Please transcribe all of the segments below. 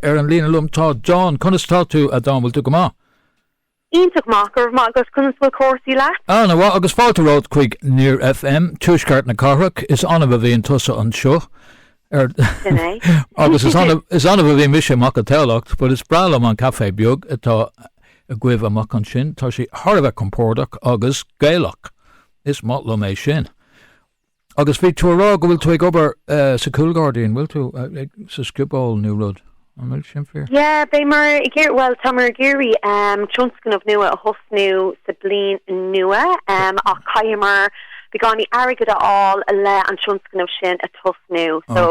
Ar an líne liom tá John. Conas tá tú, a John, bhfuil tú go maith? Iontach maith, go raibh maith agat, conas bhfuil cúrsaí leat? Ana mhaith, agus fáilte romhat chuig Near FM, tuaisceart na cathrach, is annamh a bhíonn tusa anseo, ar Sin é. agus is annamh, is annamh a bhíonn mise amach i Tamhlacht, but is breá liom an café beag atá agaibh amach ansin, tá sé thar a bheith compordach agus Gaelach, is maith liom é sin. Agus bhí tú a rá go bhfuil tú ag obair sa chúlghairdín, an bhfuil tú? Sa scioból nó rud, an bhfuil sin fíor? Yeah, beidh mar ag iarraidh, bhuel, tá mar ag iarraidh tionscnamh nua a thosnú sa bliain nua ach caitheamar beagáinín airgead a fháil le an tionscnamh sin a tosnú so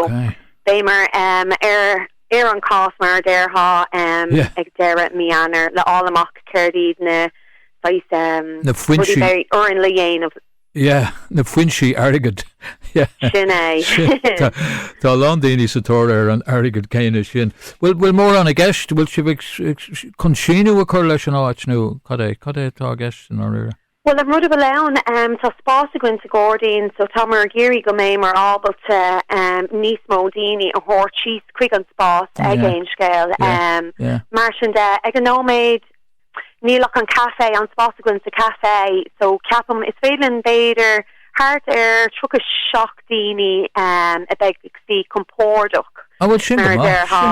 beidh mar ar ar an cás mar a déarfá ag deireadh mí Eanáir le fháil amach céard iad na saghas rudaí a bheidh orainn le dhéanamh. Yeah, na foinsí airgid. Sin é. Tá a lán daoine sa tóir ar an airgead céanna sin. Bhfuil, bhfuil mórán i gceist? Bhfuil sibh ag, ag, chun síneadh a chur leis an áit nó cad é, cad é atá i gceist i ndáiríre? Bhuel, an rud a bhfuil ann, em, tá spás againn sa ghairdín, so tá mar ag iarraidh go mbeidh mar ábalta, em, níos mó daoine a thabhairt síos chuig an spás ag Yeah, Aon Scéal, yeah, em, yeah. mar sin de. Ag an nóiméad, Níl ach an caifé, an spás againn sa chaifé so ceapaim is féidir linn b'fhéidir thart ar tríocha seacht daoine a bheith ag suí compordach mar a déarfá.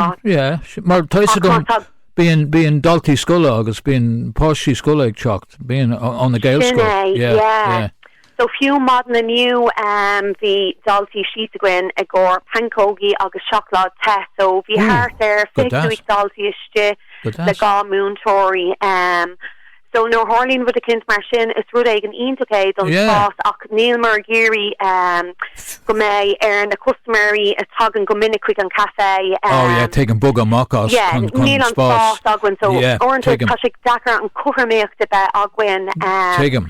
Mar tá fhios agam bíonn daltaí scoile agus bíonn páistí scoile ag teacht bíonn ó na Gaelscoil. So fiú maidin inniu bhí daltaí síos againn i gcomhair pancógaí agus seacláid te, so bhí thart ar fiche cúig daltaí istigh le dhá múinteoirí. So nuair a tharlaíonn rud eicínt mar sin is rud éigin iontach é don spás ach níl mar ag iarraidh go mbeidh ar na custaiméirí a thagann go minic chuig an caifé, Oh yeah, tuigim, bogadh amach as chun spás. Yeah, níl an spás againn so uaireanta tá sé deacair an cothromaíocht a bheith againn. Tuigim.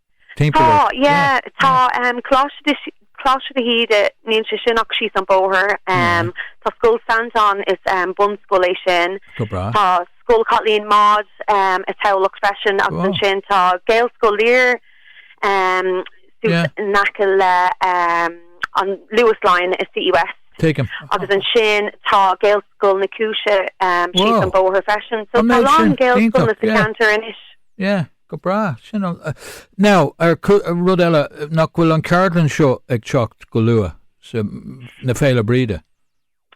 Tá, yeah, tá, ehm, Coláiste de, Coláiste de hÍde, níl sé sin ach síos an bóthar, ehm, tá Scoil Santain, is, ehm, bunscoil é sin, tá Scoil Chaitlín Maude, ehm, i Tamhlacht freisin agus ansin tá Gaelscoil Lir, ehm, suas in aice le, ehm, an Luas line i Citywest. Tuigim. Agus ansin tá Gaelscoil na Giúise, ehm, síos an bóthar freisin, so tá a lán Gaelscoileanna sa cheantar anois. Yeah, Go breá sin. Now, ar rud eile, nach bhfuil an ceardlann seo ag teacht go luath sa na Féile Bríde?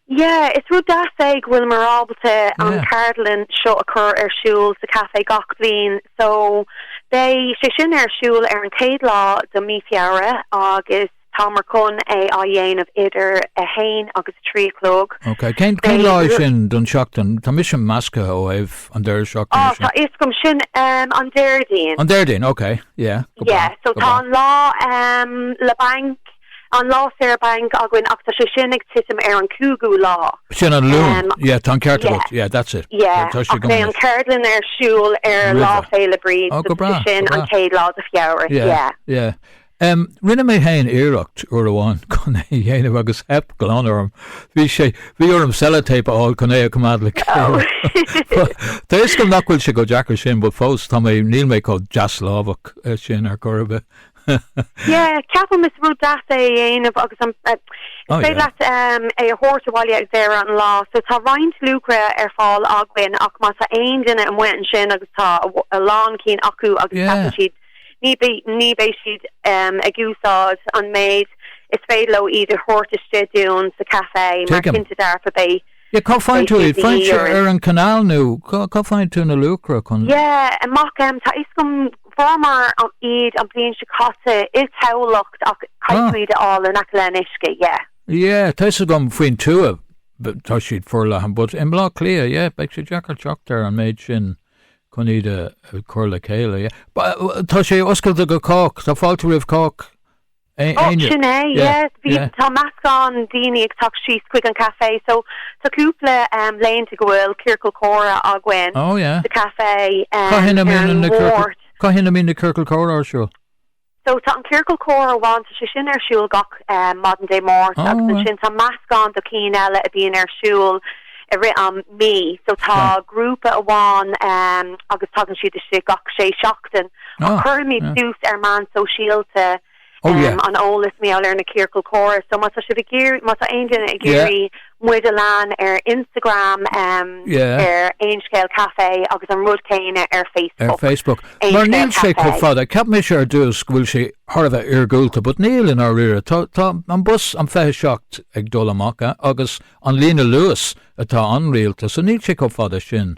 Yeah, is rud deas é go bhfuil mar ábalta an ceardlann seo a chur ar siúl sa café gach bliain. So, beidh sé sin ar siúl ar an chéad lá de mí Feabhra agus. Tá muid chun é a dhéanamh idir a haon agus a trí a chlog. Ok. Cén lá é sin den seachtain? Tá mise measctha suas ó thaobh an deireadh seachtaine sin. Tá a fhios agam. Sin an Déardaoin. An Déardaoin. Ok. Yeah. Go breá. Yeah. So tá an lá lá bainc, an lá saor bainc againn ach tá sé sin ag titim ar an cúigiú lá. Sin an Luan. Yeah. Tá an ceart agat. Yeah. That's it. Yeah. Tá sé go maith. Tá an ceardlann ar siúl ar Lá Féile Bríde. Oh, go breá. Sin an chéad lá de Feabhra. Yeah. Yeah. Rinne mé féin iarracht uair amháin chun é a dhéanamh agus theip glan orm. Bhí sé, bhí orm sellotape a fháil chun é a choimeád le chéile. Tá a fhios agam nach bhfuil sé chomh deacair sin, but fós, tá mé, níl mé chomh deaslámhach sin ar chor ar bith. Yeah, ceapaim is rud deas é a dhéanamh agus an, is féidir leat é a thabhairt abhaile ag deireadh an lá, so tá roinnt luachra ar fáil againn ach má tá aon duine amuigh ansin agus tá a lán cinn acu agus ceapann siad, ní bheidh siad ag úsáid an méid is féidir leo iad a thabhairt isteach dúinn sa café mar cinnte dearfa beidh. Cá bhfaigheann tú iad? Faigheann ar an canal nó cá bhfaigheann tú na luachra chun. Yeah, amach, tá a fhios agam, fuaireamar iad an bhliain seo caite i dTamhlacht ach caithfidh tú iad a fháil in aice le an uisce, yeah. Yeah, tá a fhios agam faoin tuath tá siad forleathan but i mBleá Cliath, yeah, beidh sé deacair teacht ar an méid sin. chun iad a chur le chéile. Tá sé oscailte do chách, tá fáilte roimh chách. Sin é, yeah, bhí, tá meascán daoine ag teacht síos chuig an café so tá cúpla laethanta go bhfuil ciorcal comhrá againn sa café. Cathain a mbíonn na ciorcail comhrá ar siúl? So, tá an ciorcal comhrá amháin, tá sé sin ar siúl gach maidin Dé Máirt agus ansin tá meascán de chinn eile a bhíonn ar siúl i rith an mí. So, tá grúpa amháin agus tagann siad isteach gach sé seachtain ach cuirimid suas ar meán sóisialta an eolas mar gheall ar na ciorcail comhrá. So, má tá sibh ag iarraidh, má tá aon duine ag iarraidh. muid a leanúint ar Instagram, ar Aon Scéal Café agus an rud céanna ar Facebook. Mar níl sé chomh fada, cheap mise ar dtús go bhfuil sé thar a bheith iargúlta, but níl i ndáiríre. Tá an bus, an 27, ag dul amach agus an líne Luas atá an-rialta, so níl sé chomh fada sin.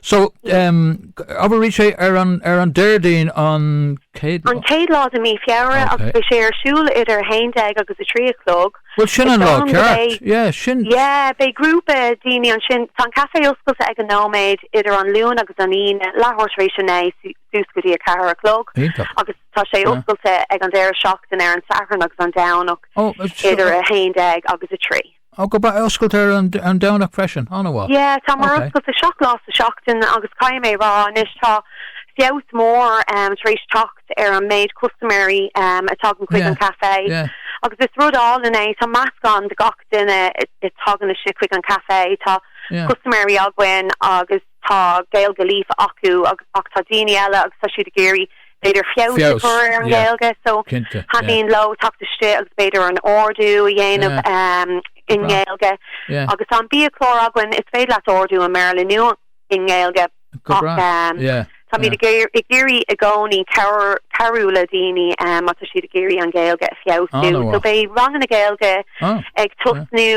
So, ehm, abair arís é, ar an Déardaoin an céad lá? An chéad lá de mí Feabhra agus beidh sé ar siúl idir a haon déag agus a trí a chlog. Bhuel sin an lá ceart, yeah, sin. Yeah, beidh grúpa daoine ansin, tá an caifé oscailte ag an nóiméad idir an Luan agus an Aoine, leathuair tar éis a naoi suas go dtí a ceathair a chlog, agus tá sé oscailte ag an deireadh seachtain ar an Satharn agus an Domhnach idir a haon déag agus a trí. Oh, go breá. Oscailte ar an Domhnach freisin? An-mhaith. Yeah, támar oscailte seacht lá sa seachtain agus caithfidh mé a rá anois tá feabhas mór tar éis teacht ar an méid custaiméirí a tagann chuig an caifé agus is rud álainn é, tá meascán de gach duine a tagann isteach chuig an caifé, tá custaiméirí againn agus. tá Gaeilge líofa acu ach tá daoine eile agus tá siad ag iarraidh b'fhéidir feabhas a chur ar an nGaeilge so thaitníonn leo teacht isteach agus b'fhéidir an ordú a dhéanamh i nGaeilge agus tá an biachlár againn is féidir leat ordú i mBéarla nó i nGaeilge ach táimid ag iarraidh i gcónaí cabhrú le daoine má tá siad ag iarraidh an Ghaeilge a feabhsú so beidh ranganna Gaeilge ag tosnú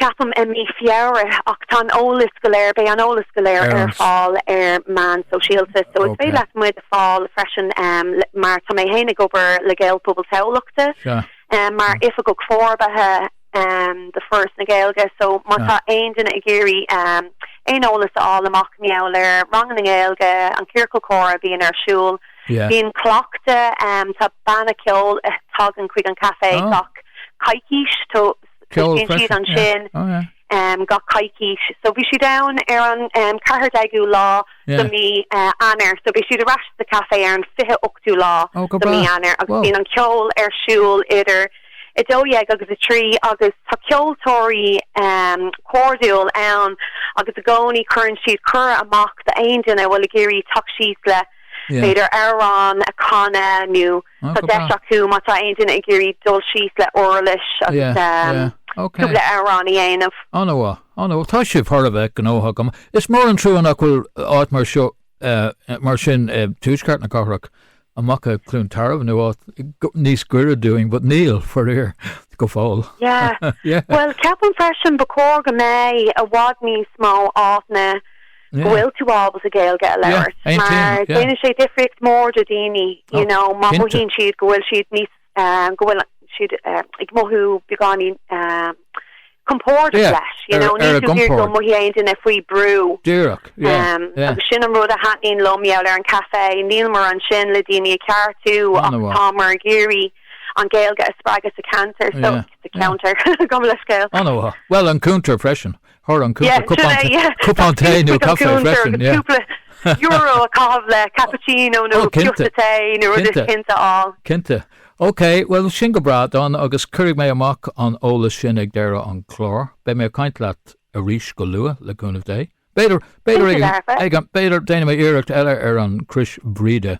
ceapaim, i mí Feabhra ach tá an eolas go léir, beidh an eolas go léir ar fáil ar meán sóisialta so is féidir leat muid a fáil freisin mar tá mé féin ag obair le Gaelphobal Thamhlachta mar Oifigeach Forbartha de Foras na Gaeilge so má tá aon duine ag iarraidh aon eolas a fháil amach i ngeall ar ranganna Gaeilge, an ciorcal comhrá a bhíonn ar siúl, bíonn cleachtadh, tá banna ceoil a thagann chuig an caifé gach coicís. Sin iad ansin gach coicís. So bhí siad ann ar an 14ú lá de mí Eanáir. So beidh siad ar ais sa café ar an 28ú lá de mí Eanáir agus bíonn an ceol ar siúl idir a dó dhéag agus a trí agus tá ceoltóirí cairdiúil ann agus i gcónaí cuireann siad cuireadh amach do aon duine a bhfuil ag iarraidh teacht síos le b'fhéidir amhrán a canadh nó Tá deis acu, má tá aon duine ag iarraidh dul síos le uirlis agus cúpla amhrán a dhéanamh. Ana mhaith, ana mhaith. Tá sibh thar a bheith gnóthach. Is mór an trua nach bhfuil áit mar seo, mar sin, i dtuaisceart na cathrach, amach i gCluain Tarbh nó áit níos gaire dúinn, but níl, faraor, go fóill. Yeah, yeah. Bhuel, ceapaim freisin ba chóir go mbeidh i bhfad níos mó áiteanna. go bhfuil tú ábalta Gaeilge a labhairt mar déanann sé difríocht mór do dhaoine you know má mhothaíonn siad go bhfuil siad níos go bhfuil siad ag mothú beagáinín compordach leis you know níl tú ag iarraidh go mothaíonn aon duine faoi brú díreach agus sin an rud a thaitníonn liom i ngeall ar an caife nílimar ansin le daoine a ceartú ach támar ag iarraidh an Gaeilge a spreagadh sa ceantar so sa cheantar gabh mo leithscéal. An-mhaith. Bhuel an cuntar freisin. Thar an cuntar cupán tae nó caife freisin, yeah. Cúpla euro a chaitheamh le cappuccino nó ciosta tae nó rud is cinnte ann. Cinnte. Ok, bhuel sin go breá Dawn agus cuirfidh mé amach an eolas sin ag deireadh an chláir. Beidh mé ag caint leat arís go luath, le cúnamh Dé. B'fhéidir, b'fhéidir ag an, b'fhéidir déanfaidh mé iarracht eile ar an Chrois Bhríde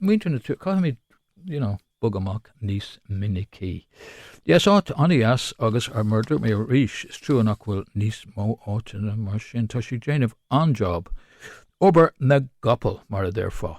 muintir na tíre, caithfimid you know bogadh amach níos minicí. Yes, áit an-deas agus ar murder mé arís, is trua nach bhfuil níos mó áiteanna mar sin, tá siad déanamh an-job, obair na gcapall mar a déarfá.